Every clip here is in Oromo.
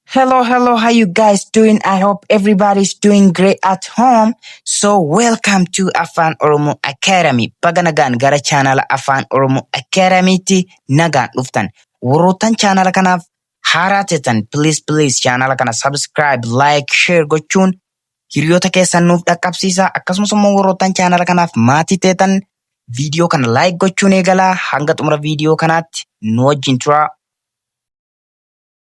Hello, hello. How you guys doing? I hope everybody's doing great at home. So welcome to Afan Oromo Academy. Baga nagaan gara channel Afan Oromo Academy ti nagaan dhuftan. Warroottan channel kanaaf haaraa tetan please please channel kana subscribe, like, share gochuun hiriyoota keessan nuuf dhaqqabsiisa. Akkasumas immoo warroottan channel kanaaf maatii teetan viidiyoo kana like gochuun eegalaa hanga xumura viidiyoo kanaatti nu wajjin turaa.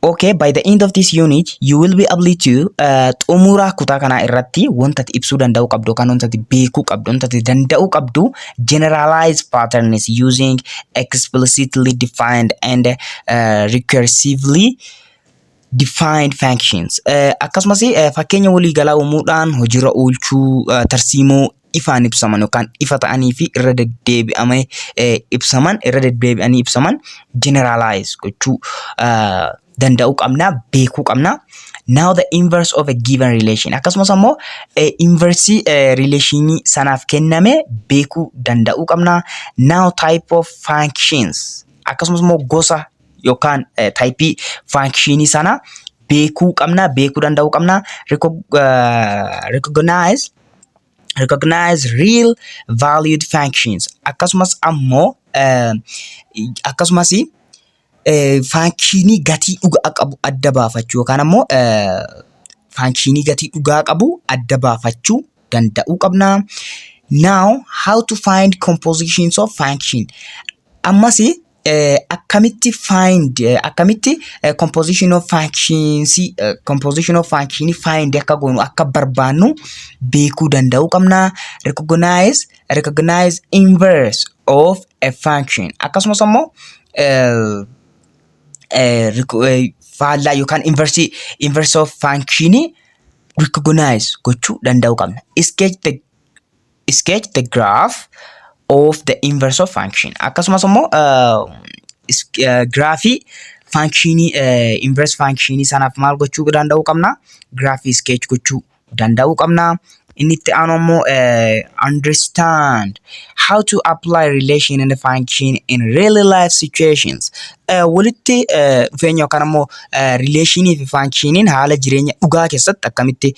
Okay, by the end of this unit, you will be able to uh, xumuraa kutaa kanaa irratti wanta ati ibsuu danda'uu qabdu yookaan wanta ati beekuu qabdu, wanta ati danda'uu qabdu generalized patterns using explicitly defined and uh, recursively defined functions. Uh, akkasumas uh, fakkeenya waliigalaa uumuudhaan hojiirra oolchuu uh, tarsiimoo ifaan ibsaman yookaan ifa ta'anii fi irra deddeebi'amee eh, ibsaman irra deddeebi'anii ibsaman generalize gochuu ah, danda'uu qabna beekuu qabna. Now the inverse of a given relation akkasumas ammoo eh, inversii eh, relationii sanaaf kenname beekuu danda'uu qabna. Now type of functions akkasumas immoo gosa yookaan eh, taayipii faankishinii sana beekuu qabna beekuu danda'uu qabna Recog- eh, recognize recognize real valued functions akkasumas ammoo eh, akkasumas eh, faankishinii gatii dhugaa qabu adda baafachuu yookaan ammoo eh, faankishinii gatii dhugaa qabu adda baafachuu danda'uu qabna. Now how to find compositions of function ammas Eh, akkamitti find eh, akkamitti eh, composition of functions eh, composition of function find akka goonu akka barbaannu beekuu danda'uu qabna recognize recognize inverse of a function akkasumas ammoo eh, eh, reco- eh, faallaa yookaan inverse inverse of function recognize gochuu danda'uu qabna sketch the sketch the graph of the inverse of function akkasumas immoo giraafii faankshinii inverse faankshinii sanaaf maal gochuu danda'uu qabna giraafii sketch gochuu danda'uu qabna inni itti aanu immoo understand how to apply relation and function in real life situations walitti dhufeenya yookaan immoo rileeshinii fi faankshiiniin haala jireenya dhugaa keessatti akkamitti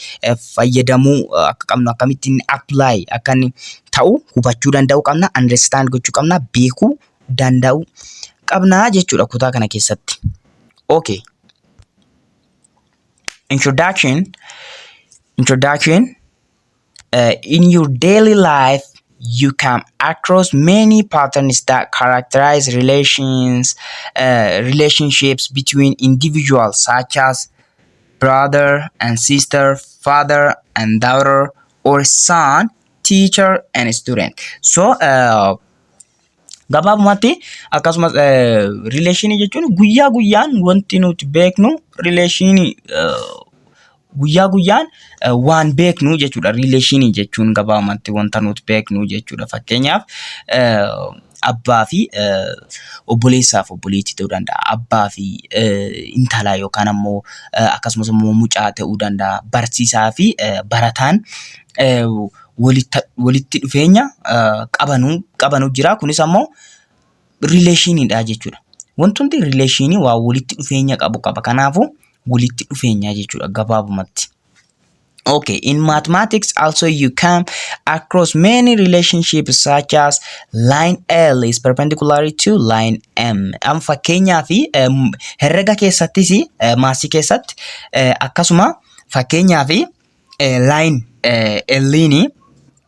fayyadamuu akka qabnu akkamitti inni apply akka inni ta'u hubachuu danda'uu qabna understand gochuu qabna beekuu danda'uu qabna jechuudha kutaa kana keessatti. Okay. Introduction Introduction uh, In your daily life you come across many patterns that characterize relations uh, relationships between individuals such as brother and sister, father and daughter, or son, teacher and student. So uh, gabaabumatti akkasumas rileeshinii jechuun guyyaa guyyaan wanti nuti beeknu rileeshinii guyyaa guyyaan waan beeknu jechuudha. Rileeshinii jechuun gabaabumatti wanta nuti beeknu jechuudha. Fakkeenyaaf abbaa fi obboleessaa fi obboleettii ta'uu danda'a. Abbaa fi intalaa yookaan ammoo akkasumas immoo mucaa ta'uu danda'a. Barsiisaa fi barataan walitti dhufeenya qabanu jira. Kunis ammoo rileeshiniidha jechuudha. Wantoonni rileeshinii waa walitti dhufeenya qabu qaba. Kanaafuu walitti dhufeenya jechuudha gabaabumatti. Okay, in mathematics also you come across many relationships such as line L is perpendicular to line M. Am fakkeenyaa fi em, herrega keessattis eh, maasii keessatti eh, akkasuma fakkeenyaa fi eh, line eh, L ni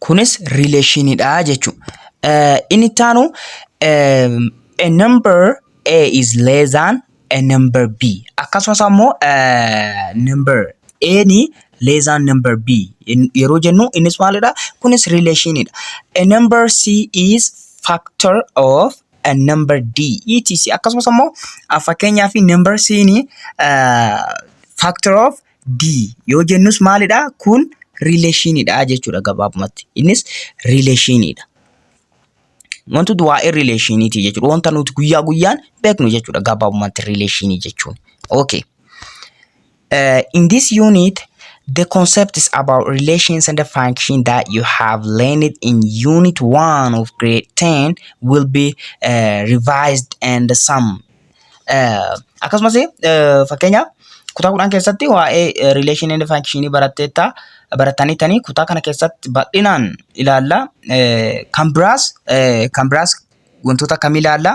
kunis rileeshiniidha jechuudha. Inni itti aanu a number A is less than a number B akkasumas ammoo number A ni less than number B yeroo jennu innis maalidha? Kunis rileeshiniidha. A number C is factor of uh, number D etc akkasumas ammoo uh, fakkeenyaa fi number C ni uh, factor of D yoo jennus maalidha kun relationidha jechuudha gabaabumatti innis relationidha wantoota waa'ee relationiti jechuudha wanta nuti guyyaa guyyaan beeknu jechuudha gabaabumatti relationii jechuun okay Uh, in this unit, the concepts about relations and the function that you have learned in Unit 1 of Grade 10 will be uh, revised and summed. Uh, akkasumas uh, fakkeenyaaf kutaa kudhan keessatti waa'ee uh, relation and function baratteetta baratanii tanii kutaa kana keessatti bal'inaan ilaalla. Uh, kan biraas uh, kan biraas wantoota akkamii ilaalla?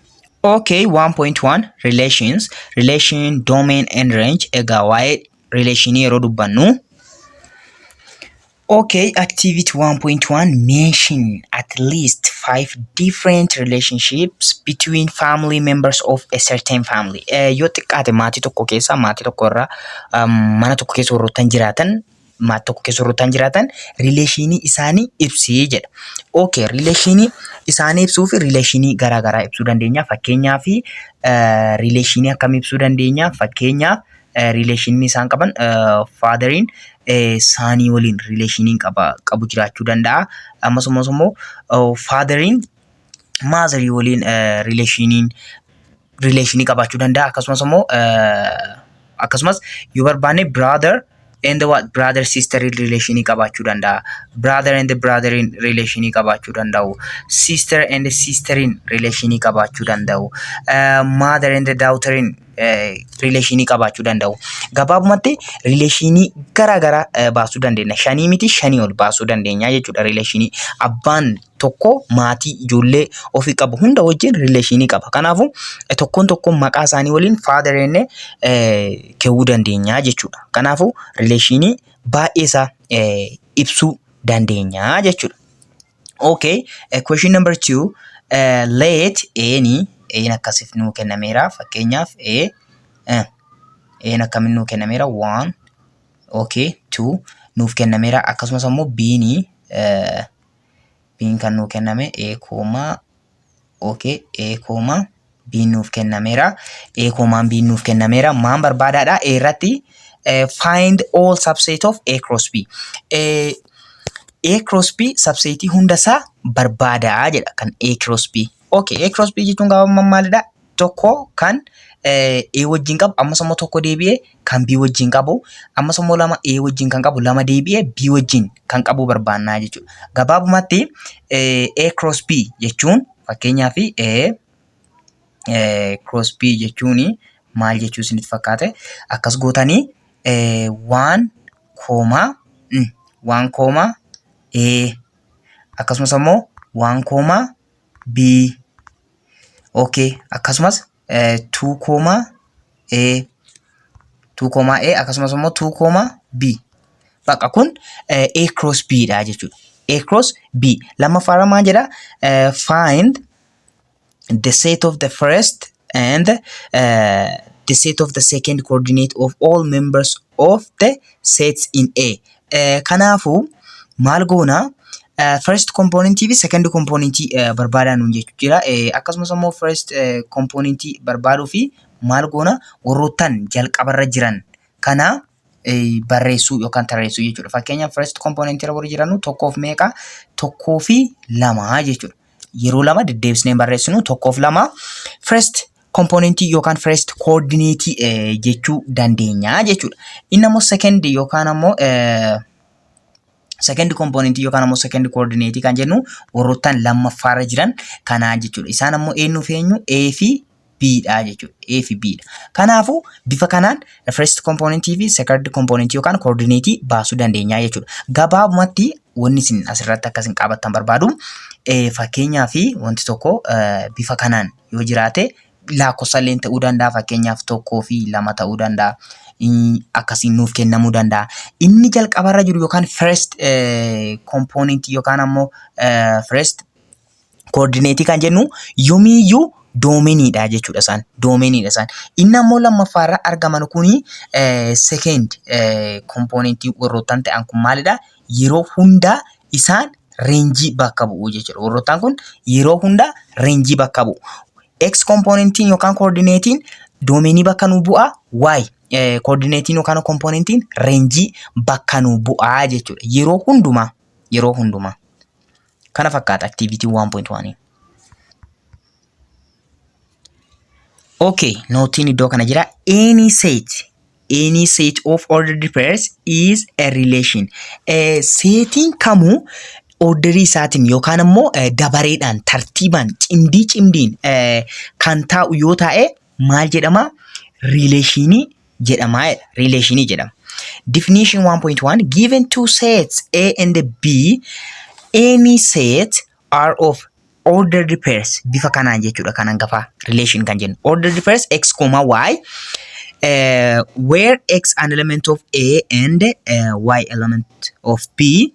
Okay, 1.1 relations, relation, domain and range. Egaa waa'ee relation yeroo dubbannu. Okay, activity 1.1 mention at least five different relationships between family members of a certain family. Eh, yoo xiqqaate maatii tokko keessa maatii tokko irraa um, mana tokko keessa warroottan jiraatan maat tokko keessa warra ta'an jiraatan riileeshinii isaanii ibsii jedha. Okay, riileeshinii isaanii ibsuu fi riileeshinii garaa garaa ibsuu dandeenya. Fakkeenyaaf riileeshinii akkam ibsuu dandeenya? Fakkeenyaaf riileeshinii isaan qaban faadariin saanii waliin riileeshinii qaba qabu jiraachuu danda'a. Ammas ammas immoo faadariin maazarii waliin rileeshiniin rileeshinii qabaachuu danda'a akkasumas immoo akkasumas yoo barbaanne brother and what brother sister rileeshinii qabaachuu danda'a brother and brother rileeshinii qabaachuu danda'u sister and sister rileeshinii qabaachuu danda'u mother and daughter rileeshinii qabaachuu danda'u gabaabumatti rileeshinii gara garaa baasuu dandeenya shanii miti shanii ol baasuu dandeenya jechuudha rileeshinii abbaan tokko maatii ijoollee ofii qabu hunda wajjin rileeshinii qaba. Kanaafuu eh, tokkoon tokkoon maqaa isaanii waliin faadar jennee eh, ka'uu dandeenya jechuudha. Kanaafuu rileeshinii baay'ee isaa eh, ibsuu dandeenya jechuudha. Okay, uh, question number two. Uh, let any een akkasif nuu kennameera fakkeenyaaf a uh, een akkamin nuu kennameera one okay two nuuf kennameera akkasumas ammoo biini uh, biin kan nuu kenname ee koomaa okay ee koomaa biin nuuf kennameera ee koomaan biin nuuf kennameera maan barbaadaadha ee irratti eh, find all subset of a cross b Eh, a cross b subsetii hunda isaa barbaadaa jedha kan a cross b okay a cross b jechuun gabaabummaan maalidha tokko kan A wajjin qabu ammas immoo tokko deebi'ee kan B wajjin qabu ammas immoo lama A wajjin kan qabu lama deebi'ee B wajjin kan qabu barbaannaa jechuudha. Gabaabumatti A cross B jechuun fakkeenyaaf A cross B jechuun maal jechuu isinitti fakkaate akkas gootanii waan koomaa waan koomaa A akkasumas immoo waan koomaa B OK akkasumas 2 koomaa A 2 koomaa A akkasumas immoo 2 koomaa B bakka kun eh, A cross B dha jechuudha. A cross B lammaffaarra maal jedha Eh, find the set of the first and uh, the set of the second coordinate of all members of the sets in A. Eh, Kanaafuu maal goona eh, first component fi second component eh, barbaadaa nuun jechuu jira. Eh, Akkasumas immoo first eh, component barbaaduu fi maal goona warroottan jalqabarra jiran kana eh, barreessuu yookaan tarreessuu jechuudha. Fakkeenyaaf first component irra warri jiranu tokkoof meeqa tokkoo fi lama jechuudha. yeroo lama deddeebisnee barreessinu tokkoof lama first kompoonentii yookaan first koordineetii jechuu dandeenya jechuudha. Inni ammoo second yookaan ammoo second kompoonentii yookaan ammoo second koordineetii kan jennu warroottan lammaffaarra jiran kanaa jechuudha. Isaan ammoo eenyuuf eenyu A fi B dha jechuudha. A fi B dha. Kanaafuu bifa kanaan first component fi second component yookaan coordinate baasuu dandeenya jechuudha. Gabaabumatti wanni isin asirratti akka isin qabattan barbaadu eh, fakkeenyaa fi wanti tokko eh, bifa kanaan yoo jiraate lakkoofsa illee ta'uu danda'a fakkeenyaaf tokkoo fi lama ta'uu danda'a. Mm, Akkasiin nuuf kennamuu danda'a. Inni jalqabarra jiru yookaan first eh, component yookaan ammoo eh, first Koordineetii kan jennu yomiiyyuu doomeniidha jechuudha isaan. Doomeniidha isaan. Inni ammoo lammaffaa irra argaman kuni sekeend kompoonentii warroottan ta'an kun maalidha? Yeroo hundaa isaan reenjii bakka bu'u jechuudha. Warroottan kun yeroo hundaa reenjii bakka bu'u. X kompoonentiin yookaan koordineetiin doomenii bakka nu bu'a. Y koordineetiin yookaan kompoonentiin reenjii bakka nu bu'a jechuudha. Yeroo hundumaa. Yeroo hundumaa. Kana fakkaata activity 1.1. Okay, nootiin iddoo kana jira. Any set, any set of ordered pairs is a relation. Eh, seetiin kamuu orderii isaatiin yookaan immoo eh, dabareedhaan, tartiibaan, cimdii cimdiin eh, kan taa'u yoo taa'e maal jedhama? Riileeshinii jedhama jedha. Riileeshinii jedhama. Definition 1.1 given two sets A and B any set are of ordered pairs bifa kanaan jechuudha kan hangafaa relation kan jennu ordered pairs x comma y uh, where x an element of A and uh, y element of B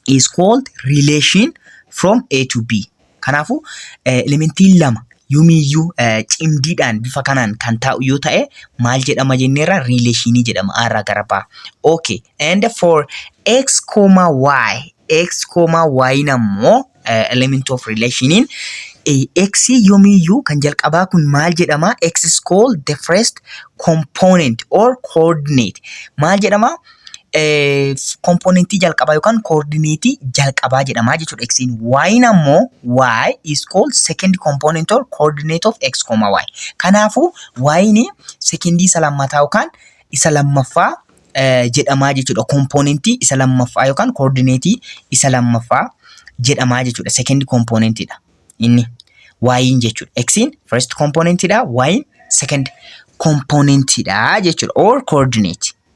is called relation from A to B Kanaafuu elementiin lama yomiiyyuu cimdiidhaan bifa kanaan kan taa'u yoo ta'e maal jedhama jenneerra riileeshinii jedhama A irraa gara B. Okay. And for x, y x, y ammoo element of relationiin x yomiiyyuu kan jalqabaa kun maal jedhama x is called the first component or coordinate maal jedhama kompoonentii jalqabaa yookaan koordineetii jalqabaa jedhama jechuudha x'n. Y'n ammoo y is called second component or coordinate of x, y. Kanaafuu y'n sekendii isa lammataa yookaan isa lammaffaa jedhama jechuudha. Kompoonentii isa lammaffaa yookaan koordineetii isa lammaffaa jedhama jechuudha. Sekendi kompoonentiidha inni y'n jechuudha. X'n first kompoonentiidha y'n second kompoonentiidha jechuudha. Or coordinate.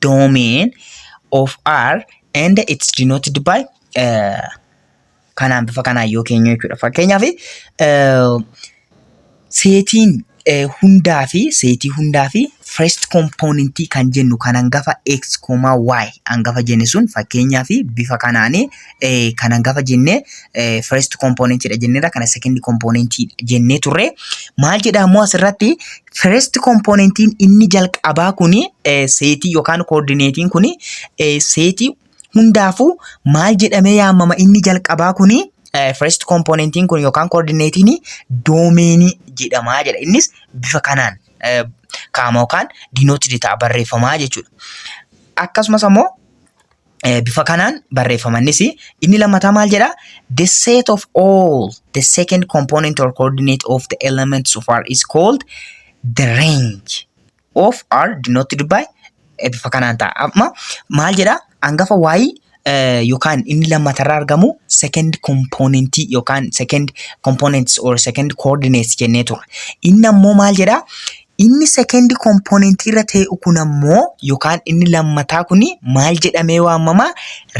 domain of R and it's denoted by uh, kanaan bifa kanaan yoo keenyu jechuudha. Fakkeenyaaf uh, seetiin uh, hundaa fi seetii hundaa fi first component kan jennu kan hangafa x, y hangafa jenne sun fakkeenyaaf bifa kanaan uh, kan hangafa jenne uh, first component dha jenneerra kana second component jennee turre maal jedha ammoo asirratti First kompoonentiin inni jalqabaa kun seetii yookaan koordineetiin kun seetii hundaafuu maal jedhamee yaamama inni jalqabaa kun first kompoonentiin kun yookaan koordineetiin doomeenii jedhamaa jedha. Innis bifa kanaan kaama yookaan dinootid ta'a barreeffamaa jechuudha. Akkasumas ammoo Eh, bifa kanaan barreeffamannis inni lammataa maal jedha the set of all the second component or coordinate of the elements of R is called the range of R denoted by eh, bifa kanaan ta'a amma maal jedha hangafa y eh, yookaan inni lammatarraa argamu second component yookaan second components or second coordinates jennee ture inni ammoo maal jedha Inni second component irra tee'u kun ammoo yookaan inni lammataa kun maal jedhamee waamama?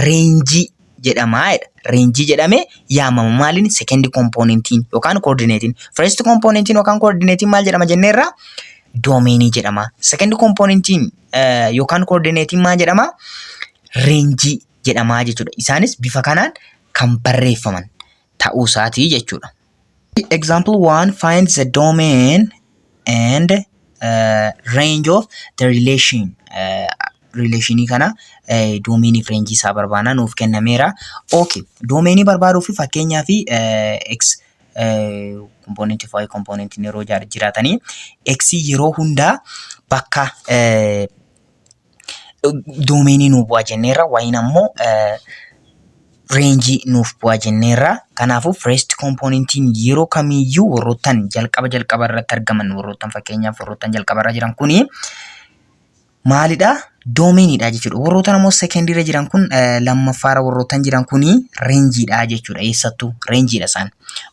Reenjii jedhama jedha. Reenjii jedhamee yaamama. Maaliin? Second componentiin yookaan coordinate'n. First componentiin yookaan coordinate'n maal jedhama jenneerra? Doomeenii jedhama. Second componentiin yookaan coordinate'n maal jedhama? Reenjii jedhama jechuudha. Isaanis bifa kanaan kan barreeffaman ta'uu isaatii jechuudha. Example 1 Find the domain and uh, range of the relation. Uh, relationii kana uh, domainii fi range isaa barbaana nuuf kennameera. Okay. Domainii barbaaduu fi fakkeenyaa fi uh, x uh, component fi y component yeroo jiraatanii x yeroo hundaa bakka uh, doomeenii nuu bu'aa jenneerra wayiin ammoo reenjii nuuf bu'aa jenneerra. Kanaafuu first kompoonentiin yeroo kamiyyuu warroottan jalqaba jalqaba irratti argaman warroottan fakkeenyaaf warroottan jalqaba irra jiran kuni maalidha? Doomeeniidha jechuudha. Warroottan ammoo second irra jiran kun lammaffaara warroottan jiran kuni reenjiidha jechuudha. Eessattuu reenjiidha isaan.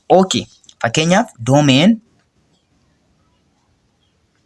Okay. Fakkeenyaaf doomeen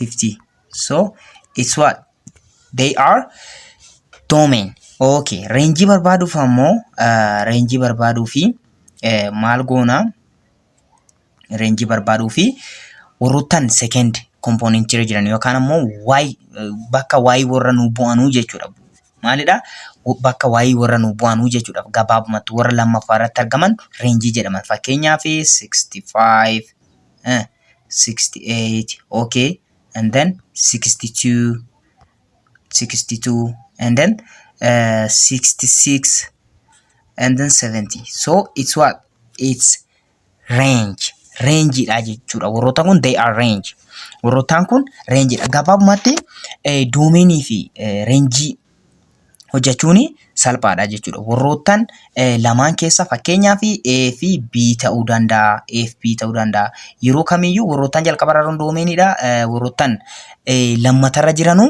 50 so it's what they are domain okay reenjii barbaaduuf ammoo uh, reenjii barbaaduu fi uh, maal goona reenjii barbaaduu fi warroottan second component irra jiran yookaan ammoo y uh, bakka y warra nu bu'anuu jechuudha maalidha W- bakka y warra nu bu'anuu jechuudha gabaabumatti warra lammaffaa irratti argaman reenjii jedhaman fakkeenyaaf 65 eh, 68 okay and then 62 62 and then uh, 66 and then 70 so it's what it's range range dha jechuudha warroota kun they are range warrootaan kun range dha gabaabumatti eh, doomeenii fi eh, range hojjechuun salphaadha jechuudha. Warroottan lamaan keessa fakkeenyaaf A fi B ta'uu danda'a. A fi B ta'uu danda'a. Yeroo kamiyyuu warroottan jalqabarra jiran doomeenidha. Warroottan lammatarra jiranu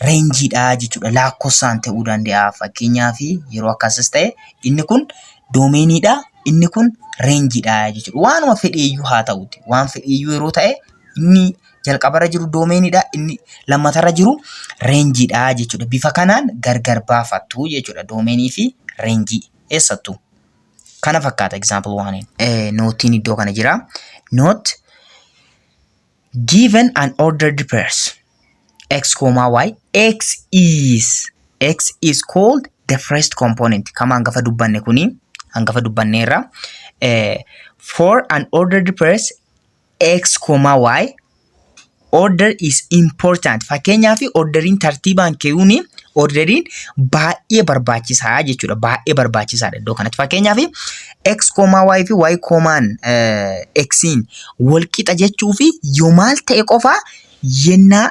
reenjiidha jechuudha. Lakkoofsaan ta'uu danda'a. Fakkeenyaaf yeroo akkasis ta'e inni kun doomeenidha. Inni kun reenjiidha jechuudha. Waanuma fedheeyyuu haa ta'uuti. Waan fedheeyyuu yeroo ta'e inni jalqabarra jiru doomeenidha. Inni lammatarra jiru reenjiidha jechuudha. Bifa kanaan gargar baafattu jechuudha doomeenii fi reenjii eessattuu. Kana fakkaata example waaniin. Nootiin iddoo kana jira. Note given an ordered pairs x comma y x is x is called the first component kama hangafa dubbanne kuni hangafa dubbanneerra eh, for an ordered pairs X, Y order is important. Fakkeenyaaf orderiin tartiibaan keewuun orderiin baay'ee barbaachisaa jechuudha. Baay'ee barbaachisaadha iddoo kanatti. Fakkeenyaaf X, Y fi Y, X'n wal qixa jechuu fi yoo maal ta'e qofaa yennaa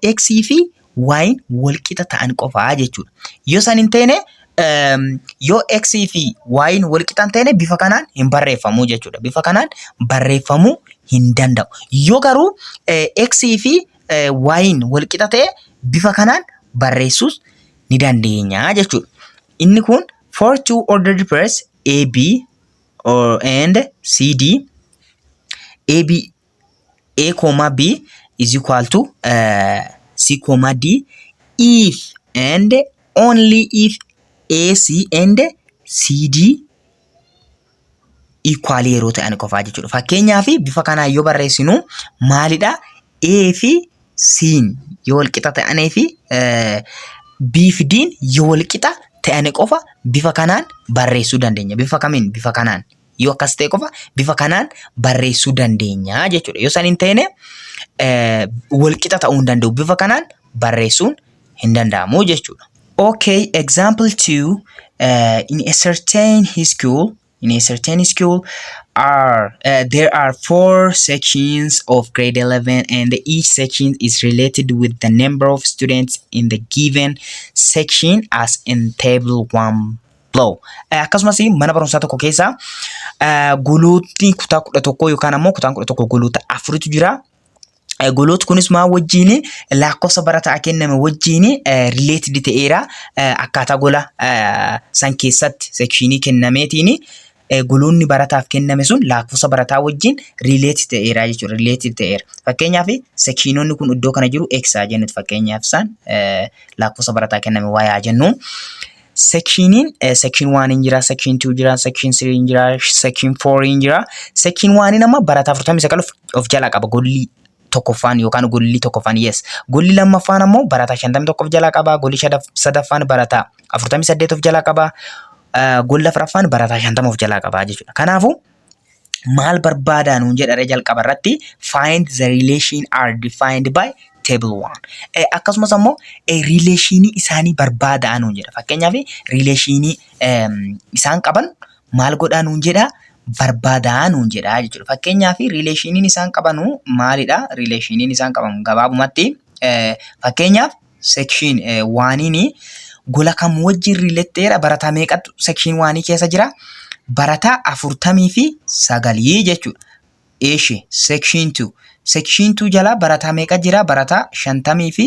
yx fi y'n walqixa ta'an qofa jechuudha. Yoo san hin taane yoo x fi y'n walqixa hin taane bifa kanaan hin barreeffamu jechuudha. Bifa kanaan barreeffamuu hin danda'u. Yoo garuu x fi y'n walqixa ta'e bifa kanaan barreessuus ni dandeenya jechuudha. Inni kun for two ordered pairs AB or and CD AB A comma B is equal to uh, C comma D if and only if AC and CD equal yeroo ta'an qofaa jechuudha. Fakkeenyaaf bifa kanaan yoo barreessinu maalidha? A fi C'n yoo wal qixa ta'anii fi eh, B fi D'n yoo wal qixa ta'anii qofa bifa kanaan barreessuu dandeenya. Bifa kamiin? Bifa kanaan. Yoo akkas ta'e qofa bifa kanaan barreessuu dandeenya jechuudha. Yoo san hin ta'ine walqixa ta'uu hin danda'u. Bifa kanaan barreessuun hin danda'amu jechuudha. Okay, example 2 uh, in a certain school in a certain school are uh, there are four sections of grade 11 and each section is related with the number of students in the given section as in table 1 low. Eh, Akkasumas mana barumsaa tokko keessa eh, golootni kutaa kudha tokkoo yookaan ammoo kutaan kudha tokko goloota afuritu jira. Eh, Golootni kunis maa wajjin lakkoofsa barataa kenname wajjin rileetid ta'eera. Eh, Akkaataa gola eh, san keessatti sekshinii kennameetiin eh, guluunni barataaf kenname sun lakkoofsa barataa wajjin relate ta'eera jechuudha. Relative ta'eera. Fakkeenyaaf sekshiinonni kun iddoo kana jiru x haa jennuti fakkeenyaaf isaan eh, lakkoofsa barataa kenname y haa jennu. Sekshiiniin eh, sekshiin 1 hin jira, sekshiin 2 jira, sekshiin 3 hin jira, sekshiin 4 hin jira. Sekshiin 1 amma barataa 49 of, of jalaa qaba golli tokkoffaan yookaan golli tokkoffaan yes. Golli lammaffaan ammoo barataa 51 of jalaa qaba. Golli shadaf- sadaffaan barataa 48 of jalaa qaba. Ah, Golli afraffaan barataa 50 of jalaa qaba jechuudha. Kanaafuu maal barbaadaa nuun jedhare jalqaba irratti find the relation are defined by table 1. Eh, Akkasumas ammoo eh, rileeshinii isaanii barbaadaa nuun jedha. Fakkeenyaaf rileeshinii ehm, isaan qaban maal godhaa nuun jedhaa? Barbaadaa nuun jedhaa jechuudha. Fakkeenyaaf riileeshiniin isaan qabanu maalidha? Riileeshiniin isaan qabamu gabaabumatti fakkeenyaaf sekshiin waaniini gola kam wajjin riiletteera barataa meeqatu sekshiin waanii keessa jira? Barataa afurtamii fi sagalii jechuudha. Eeshi sekshiin tuu sekshiin tuu jalaa barataa meeqa jira? Barataa shantamii fi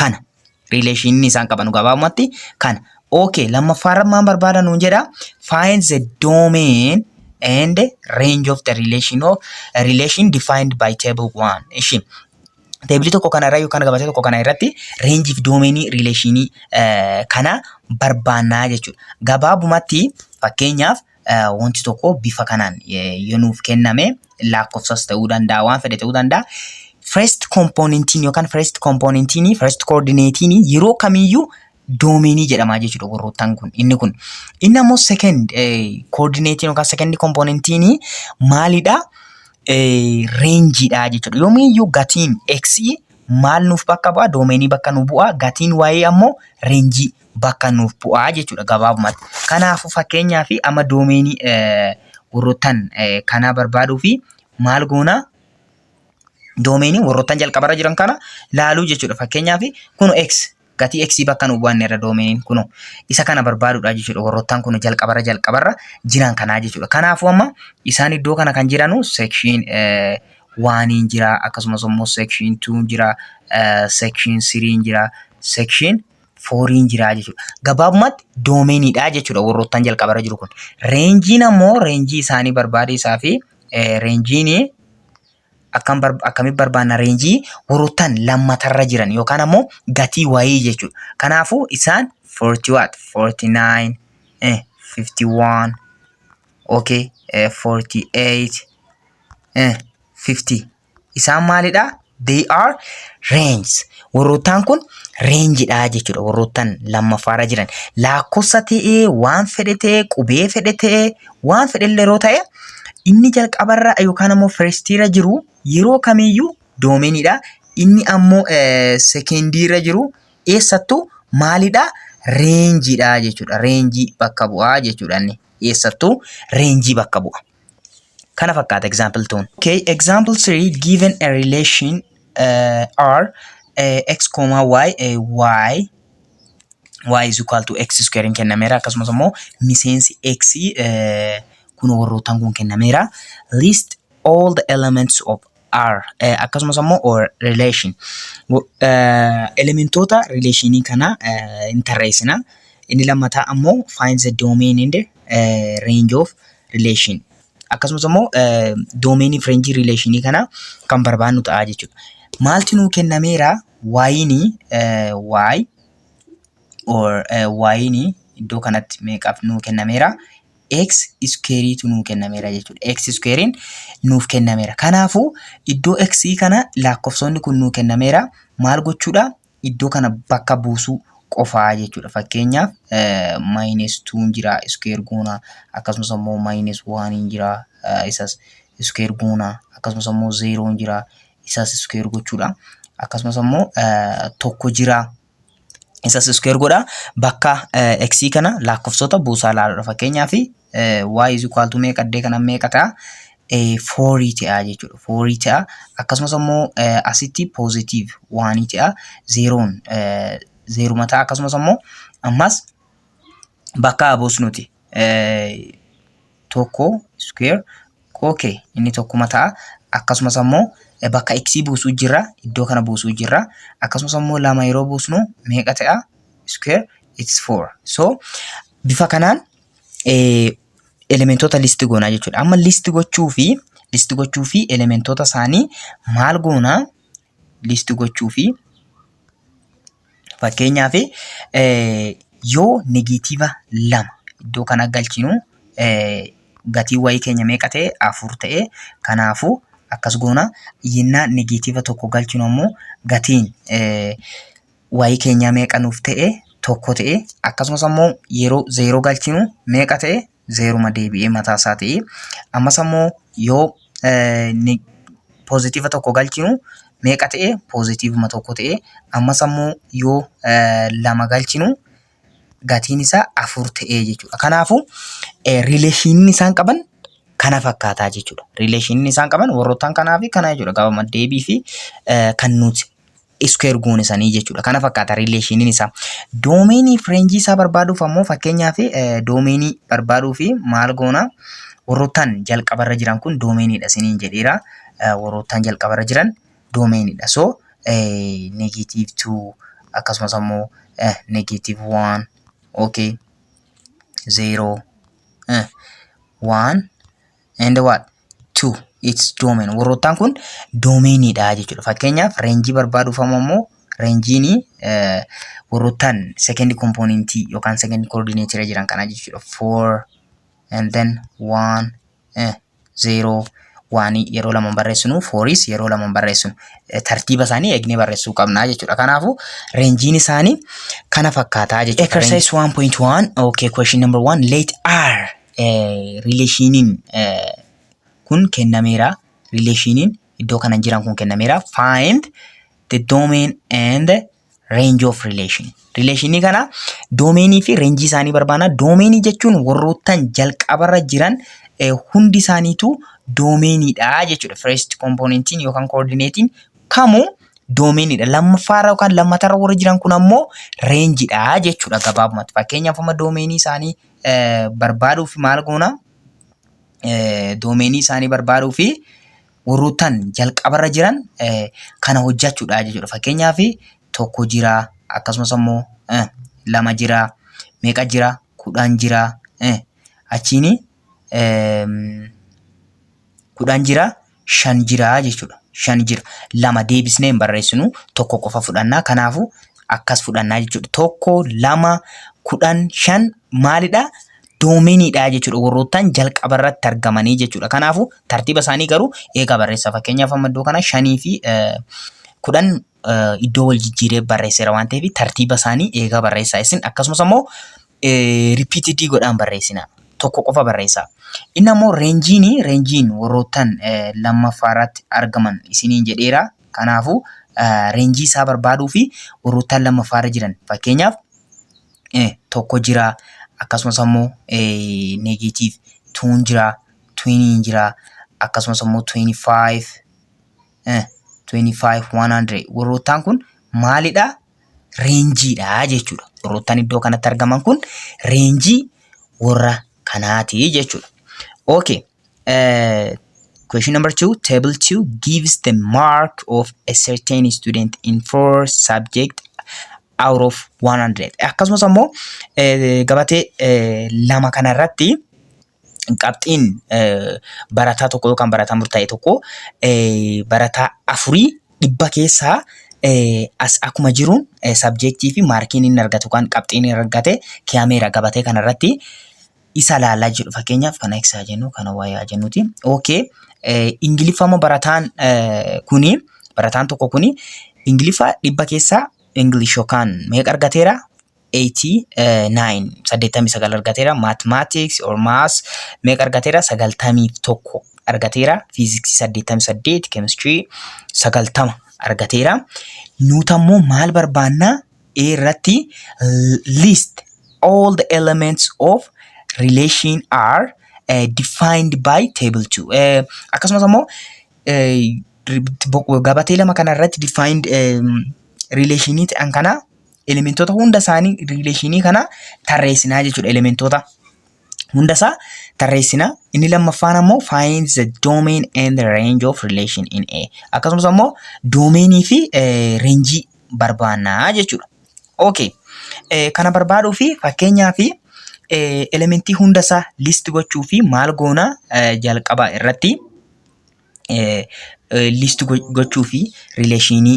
kana riileeshinii isaan qabanu gabaabumatti kana okay lammaffaarra maan barbaada nuun jedha find the domain and range of the relation of relation defined by table 1 ishi teebilii tokko kana irra yookaan gabatee tokko kana irratti reenjii fi doomeenii riileeshinii kana barbaannaa jechuudha gabaabumatti fakkeenyaaf eh, wanti tokko bifa kanaan eh, yoo nuuf kenname lakkoofsas ta'uu danda'a waan fedhe ta'uu danda'a. First componentiin yookaan first componentiin first coordinatein yeroo kamiyyuu doomeenii jedhama jechuudha gorroottan kun inni kun inni ammoo second eh, coordinatein yookaan second componentiin maalidha eh, reenjiidha jechuudha yoomiyyuu gatiin x maal nuuf bakka bu'a doomeenii bakka nu bu'a gatiin y ammoo reenjii bakka nuuf bu'aa jechuudha gabaabumatti. Kanaafuu fakkeenyaaf amma doomeenii warroottan kanaa barbaaduu fi maal goona doomeenii warroottan jalqabarra jiran kana laaluu jechuudha. Fakkeenyaaf kun X gatii X bakka nuuf bu'an irra doomeeniin kun isa kana barbaaduudha jechuudha. Warroottan kun jalqabarra jalqabarra jiran kanaa jechuudha. Kanaafuu amma isaan iddoo kana kan jiranu seekshiin waaniin jira akkasumas immoo seekshiin tuun jira seekshiin siriin jira seekshiin fooriin jiraa jechuudha. Gabaabumatti doomeeniidha jechuudha warroottan jalqabarra jiru kun. Reenjiin ammoo reenjii isaanii barbaade isaa fi reenjiin akkam akkamitti barbaanna reenjii warroottan lammatarra jiran yookaan ammoo gatii wayii jechuudha. Kanaafuu isaan 40 watt 49 eh, 51 okay eh, 48 eh, 50 Isaan maalidha? They are ranges. Warroottaan kun reenjidha jechuudha. Warroottan lammaffaarra jiran. Lakkoofsa ta'ee waan fedhe ta'ee qubee fedhe ta'ee waan fedhe illee yeroo ta'e inni jalqabarra yookaan ammoo firstiirra jiru yeroo kamiyyuu doomeniidha. Inni ammoo sekendiirra jiru eessattuu maalidha? Reenjiidha jechuudha. Reenjii bakka bu'aa jechuudha inni. Eessattuu reenjii bakka bu'a. Kana fakkaata example tuun. Okay, example 3 given a relation uh, R uh, x comma y uh, y y is equal to x square hin kennameera akkasumas immoo miseensi x uh, kun warrootaan kun kennameera list all the elements of are eh, akkasumas ammoo or relation Wo- eh, elementoota relationii kana eh, hin tarreessina inni lammataa ammoo find the domain and eh, range of relation akkasumas ammoo eh, domain fi range relationii kana kan barbaannu ta'a jechuudha maalti nuu kennameera waayini eh, waay or eh, waayini iddoo kanatti meeqaaf nuu kennameera x iskeeriitu nuu kennameera jechuudha. x iskeeriin nuuf kennameera. Kanaafuu iddoo x kana lakkoofsonni kun nuu kennameera maal gochuudha? Iddoo kana bakka buusuu qofaa jechuudha. Fakkeenyaaf maayinees tuun jira iskeer goona akkasumas immoo maayinees waaniin jira isas iskeer goona akkasumas immoo zeeroon jira isas iskeer gochuudha. Akkasumas immoo tokko jira Isas iskuweer godha. Bakka x kana lakkoofsota buusaa ilaaludha. Fakkeenyaaf y is equal to meeqa addee kana meeqa ta'a? Foorii ta'a jechuudha. Foorii ta'a. Akkasumas immoo asitti poozitiiv waanii ta'a. Zeeroon zeeruma ta'a. Akkasumas immoo ammas bakka buusnuti. tokko square ok inni tokkuma ta'a akkasumas ammoo bakka x buusuu jirra iddoo kana buusuu jirra akkasumas ammoo lama yeroo buusnu meeqa ta'a square it's 4 so bifa kanaan elementoota listi goonaa jechuudha amma listi gochuu fi listi gochuu fi elementoota isaanii maal goonaa list gochuu fi fakkeenyaaf yoo negatiiva lama iddoo kana galchinu gatii wayii keenya meeqa ta'e afur ta'e kanaafuu akkas goona yennaa negatiiva tokko galchinu ammoo gatiin wayii keenyaa meeqa nuuf ta'e tokko ta'e akkasumas ammoo yeroo zeeroo galchinu meeqa ta'e zeeruma deebi'ee mataa isaa ta'ee ammas ammoo yoo poozitiiva tokko galchinu meeqa ta'e poozitiivuma tokko ta'e ammas ammoo yoo lama galchinu gatiin isaa afur ta'ee jechuudha. Kanaafuu riileeshinii isaan qaban kana fakkaataa jechuudha. Riileeshinii isaan qaban warroottan kanaa fi kanaa jechuudha. Gaafa deebii fi kan nuti iskuweer goone sanii jechuudha. Kana fakkaata riileeshiniin isaa. Doomeenii fi reenjii isaa barbaaduuf ammoo fakkeenyaaf doomeenii barbaaduu fi maal goona warroottaan jalqabarra jiran kun doomeeniidha isiniin jedheera. Warroottaan jalqabarra jiran doomeeniidha. So negeetiiv tuu akkasumas ammoo negeetiiv waan okay zeeroo waan and what to its domain warroottaan kun doomeeniidha jechuudha fakkeenyaaf reenjii barbaaduuf ammoo reenjiin warroottaan second component yookaan second coordinator jiran kana jechuudha four and then one eh, zero waan yeroo lama barreessinu fooris yeroo lama barreessinu tartiiba isaanii eegnee barreessuu qabna jechuudha. Kanaafuu reenjiin isaanii kana fakkaataa jechuudha. Exercise 1.1 okay question number 1 let R rileeshiiniin kun kennameera. Rileeshiiniin iddoo kana jiran kun kennameera. Find the domain and range of relation. Rileeshiinii kana doomeenii fi reenjii isaanii barbaanna. Doomeenii jechuun warroottan jalqabarra jiran eh, hundi isaaniitu doomeeniidha jechuudha. First kompoonentiin yookaan koordineetiin kamuu doomeeniidha. Lammaffaarra yookaan lammatarra warri jiran kun ammoo reenjiidha jechuudha gabaabumatti. Fakkeenyaaf amma doomeenii isaanii barbaaduuf maal goona? Doomeenii isaanii barbaaduu fi warroottan jalqabarra jiran kana hojjechuudha jechuudha. Fakkeenyaaf tokko jira akkasumas immoo lama jira meeqa jira kudhan jira achiin kudhan jira. shan jira jechuudha. Shan jira. Lama deebisnee hin barreessinu. Tokko qofa fudhanna. Kanaafuu akkas fudhannaa jechuudha. Tokko, lama, kudhan, shan maalidha? Doomeniidha jechuudha. Warroottan jalqaba irratti argamanii jechuudha. Kanaafuu tartiiba isaanii garuu eegaa barreessaa. Fakkeenyaaf amma iddoo kana shanii fi kudhan iddoo wal jijjiiree barreesseera waan ta'eef tartiiba isaanii eegaa barreessaa isin akkasumas ammoo ripiitidii godhaan barreessina tokko qofa barreessaa. Inni ammoo reenjiin reenjiin warroottan lammaffaa irratti argaman isiniin jedheera. Kanaafuu reenjii isaa barbaaduu fi warroottan lammaffaa irra jiran fakkeenyaaf tokko jira akkasumas ammoo neegatiiv tuun jira tuuniin jira akkasumas ammoo tuuni faayiv eh, 25 100 warroottaan kun maalidha reenjiidha jechuudha warroottaan iddoo kanatti argaman kun reenjii warra kanaati jechuudha okay eh, question number two table two gives the mark of a certain student in four subject out of 100 akkasumas ammoo eh, gabatee eh, lama kana irratti qabxiin barataa tokko yookaan barataa murtaa'e tokko barataa afurii dhibba keessaa as akkuma jiruun sabjeektii fi maarkiin inni argatu kan qabxiin inni argate kiyameera gabatee kana irratti isa laalaa jedhu fakkeenyaaf kana eegsaa jennu kana wayaa jennuti. Okay. Ingiliffama barataan kuni barataan tokko kuni ingiliffa dhibba keessaa English yookaan meeqa argateera 89 89 argateera mathematics or maths meeqa argateera 91 argateera physics 88 chemistry 90 argateera nuuta immoo maal barbaanna A irratti l- list all the elements of relation are uh, defined by table 2 uh, akkasumas immoo uh, ri- bo- gabatee lama kana irratti defined um, relationii ta'an kana elementoota hunda isaanii riileeshinii kana tarreessinaa jechuudha elementoota hunda isaa tarreessinaa inni lammaffaan ammoo find the domain and the range of relation in A akkasumas ammoo doomeenii fi reenjii barbaannaa jechuudha. Okay. Eh, kana barbaaduu fi fakkeenyaa fi eh, elementii hunda isaa list gochuu fi maal goona eh, jalqaba irratti liist gochuu fi rileeshinii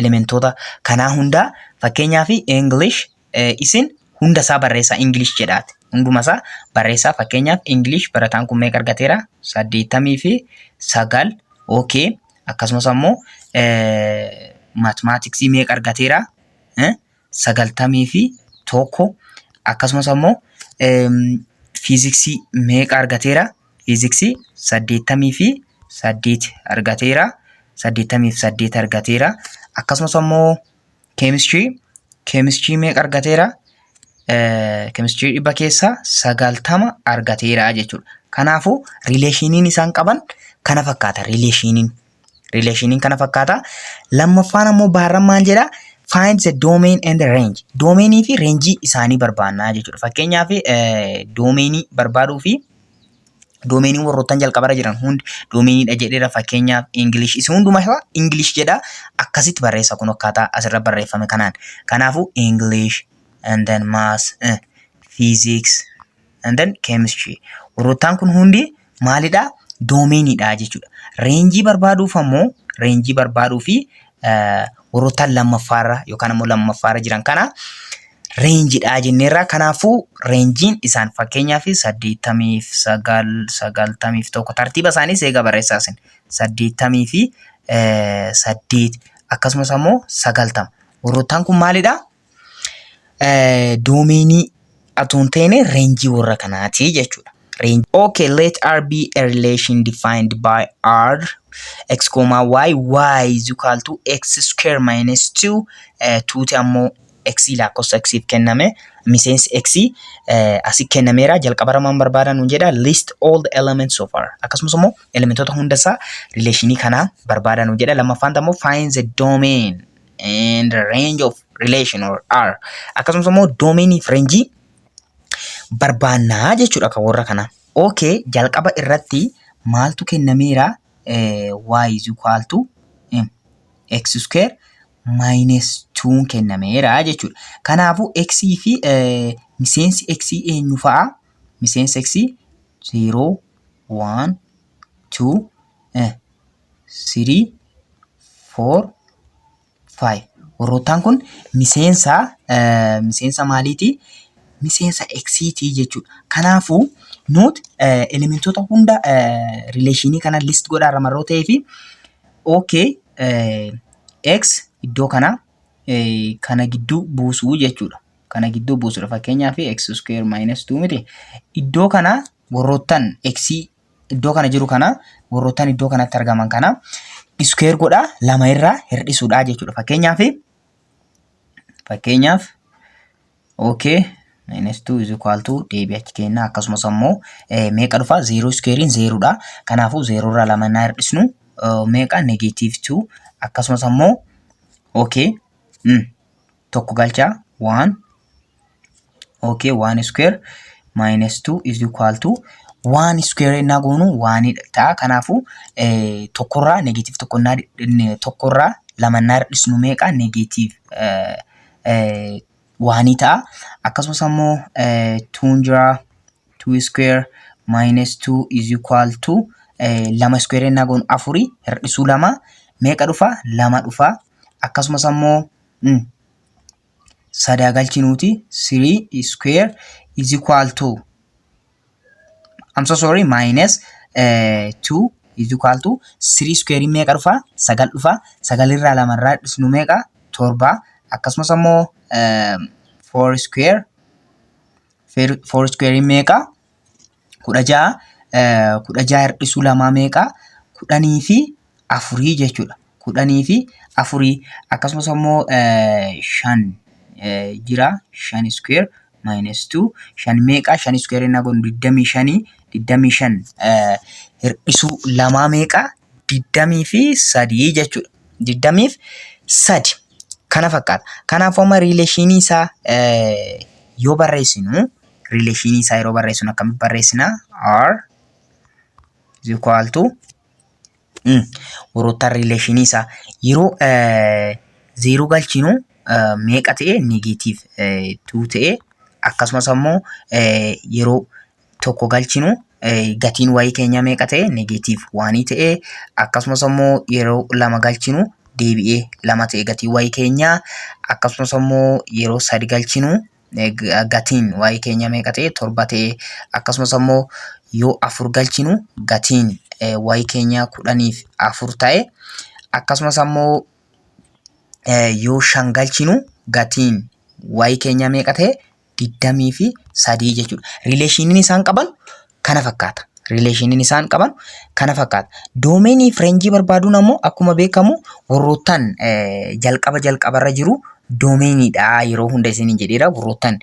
elementoota kanaa hundaa fakkeenyaaf English isin hunda isaa barreessaa English jedhaati. Hunduma isaa barreessaa fakkeenyaaf English barataan kun meeqa argateera? Saddeettamii fi sagal OK akkasumas ammoo maatimaatiksii meeqa argateera? sagaltamii fi tokko akkasumas ammoo fiiziksii meeqa argateera? Fiiziksii saddeettamii fi saddeet argateera. Saddeettamii fi saddeet argateera. Akkasumas ammoo keemistirii keemistirii meeqa argateera? Keemistirii dhibba keessaa sagaltama argateera jechuudha. Kanaafuu rileeshiniin isaan qaban kana fakkaata rileeshiniin. Rileeshiniin kana fakkaata. Lammaffaan ammoo baarran maal jedha? Find the domain and the range. Doomeenii fi reenjii isaanii barbaannaa jechuudha. Fakkeenyaaf doomeenii barbaaduu fi doomeenii warroottan jalqabarra jiran hundi doomeeniidha jedheera fakkeenyaaf Ingilish isa hundumaa isaa Ingilish jedha akkasitti barreessa kun akkaataa asirra barreeffame kanaan. Kanaafuu Ingilish and then maths, eh, physics, and then chemistry. Warroottaan kun hundi maalidha? Doomeeniidha jechuudha. Reenjii barbaaduuf ammoo reenjii barbaaduu fi warroottaan lammaffaarra yookaan ammoo lammaffaarra jiran kana reenjiidha jenneerra. Kanaafuu reenjiin isaan fakkeenyaaf saddeettamii fi sagal sagaltamii fi tokko tartiiba isaaniis eega barreessaa isin saddeettamii fi saddeet akkasumas ammoo sagaltama. Warroottaan kun maalidha? Doomeenii atuu hin taane reenjii warra kanaati jechuudha. Range. Okay, let R be a relation defined by R x comma y y is equal to x square minus 2 uh, 2 ti ammoo x lakkoofsa x if kenname miseensi x uh, asi kennameera jalqabara maan barbaada nuun jedha list all the elements of R akkasumas immoo elementoota hunda isaa rileeshinii kanaa barbaada nuun jedha lammaffaan ammoo find the domain and range of relation or R akkasumas immoo doomeenii fi reenjii barbaannaa jechuudha kan warra kanaa. Okay jalqaba irratti maaltu kennameera Eh, y is equal to mm, x square minus 2 kennameera jechuudha. Kanaafuu x fi eh, miseensi x eenyu fa'a? Miseensi x 0 1 2 eh, sirii foor faayi warroottaan kun miseensa miseensa maaliitii miseensa eksiitii jechuudha kanaafuu nuuti elementoota hunda rileeshinii kana list godhaa irra marroo ta'ee fi ok x iddoo kana kana gidduu buusuu jechuudha kana gidduu buusudha fakkeenyaa fi x square minus 2 miti iddoo kana warroottan x iddoo kana jiru kana warroottan iddoo kanatti argaman kana iskeer godhaa lama irraa hir'isuudhaa jechuudha. Fakkeenyaaf fakkeenyaaf okay minus 2 is equal to deebii achi kennaa akkasumas ammoo meeqa dhufa zeeroo iskeeriin zeeroodha. Kanaafuu zeeroo irraa lama naa hir'isnu meeqa negeetiiv 2 akkasumas ammoo okay. tokko galchaa waan okay waan square minus 2 is equal to waan square innaa goonu waan ta'a kanaafuu tokkorraa negatiiv tokkonnaa tokkorraa lamannaa hir'isnu meeqa negatiiv waanii ta'a akkasumas ammoo tuun jira tuu square minus 2 is equal to lama square innaa goonu afurii hir'isuu lama meeqa dhufa lama dhufa akkasumas ammoo Mm. sadaa galchinuuti 3 square is equal to I'm so sorry minus eh, 2 is equal to 3 square meeqa dhufa sagal dhufa sagal irraa lama irraa dhisnu meeqa torba akkasumas ammoo eh, 4 square 4 square meeqa kudha ja'a kudha ja'a hir'isuu lamaa meeqa kudhanii fi afurii jechuudha kudhanii fi afurii akkasumas ammoo shan jira shan iskuweer maayinas tuu shan meeqa shan iskuweer inni kun digdamii shanii digdamii shan hir'isuu lamaa meeqa digdamii fi sadii jechuudha digdamii fi sadi kana fakkaata kanaafuu amma riileeshinii isaa yoo barreessinu rileeshinii isaa yeroo barreessinu akkamitti barreessina? R is equal to warroottan rileeshinii isaa yeroo zeeroo galchinu meeqa ta'e negeetiiv tuu ta'e akkasumas ammoo yeroo tokko galchinu gatiin wayii keenya meeqa ta'e negeetiiv waanii ta'e akkasumas ammoo yeroo lama galchinu deebi'ee lama ta'e gatii wayii keenya akkasumas ammoo yeroo sadi galchinu gatiin waa'ee keenya meeqa ta'e torba ta'e akkasumas ammoo yoo afur galchinu gatiin waa'ee keenya kudhaniif afur ta'e akkasumas ammoo yoo shan galchinu gatiin waa'ee keenya meeqa ta'e digdamii fi sadii jechuudha. Riileeshiniin isaan qaban kana fakkaata. Rileeshiniin isaan qaban kana fakkaata. Doomeenii fi reenjii barbaaduun ammoo akkuma beekamu warroottan jalqaba jalqabarra jiru doomeeniidha yeroo hunda isiniin jedheera warroottan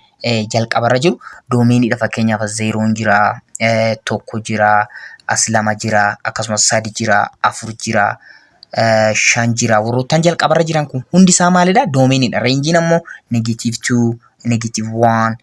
jalqabarra jiru doomeeniidha fakkeenyaaf as zeeroon jira tokko jira as lama jira akkasumas sadi jira afur jira shan jira warroottan jalqabarra jiran kun hundi isaa maalidha doomeeniidha reenjiin ammoo negatiiv 2 negatiiv 1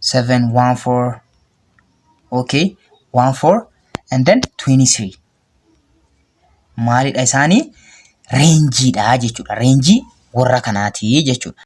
seven one four okay one four and then twenty three maalidha isaanii reenjiidha jechuudha reenjii warra kanaatii jechuudha.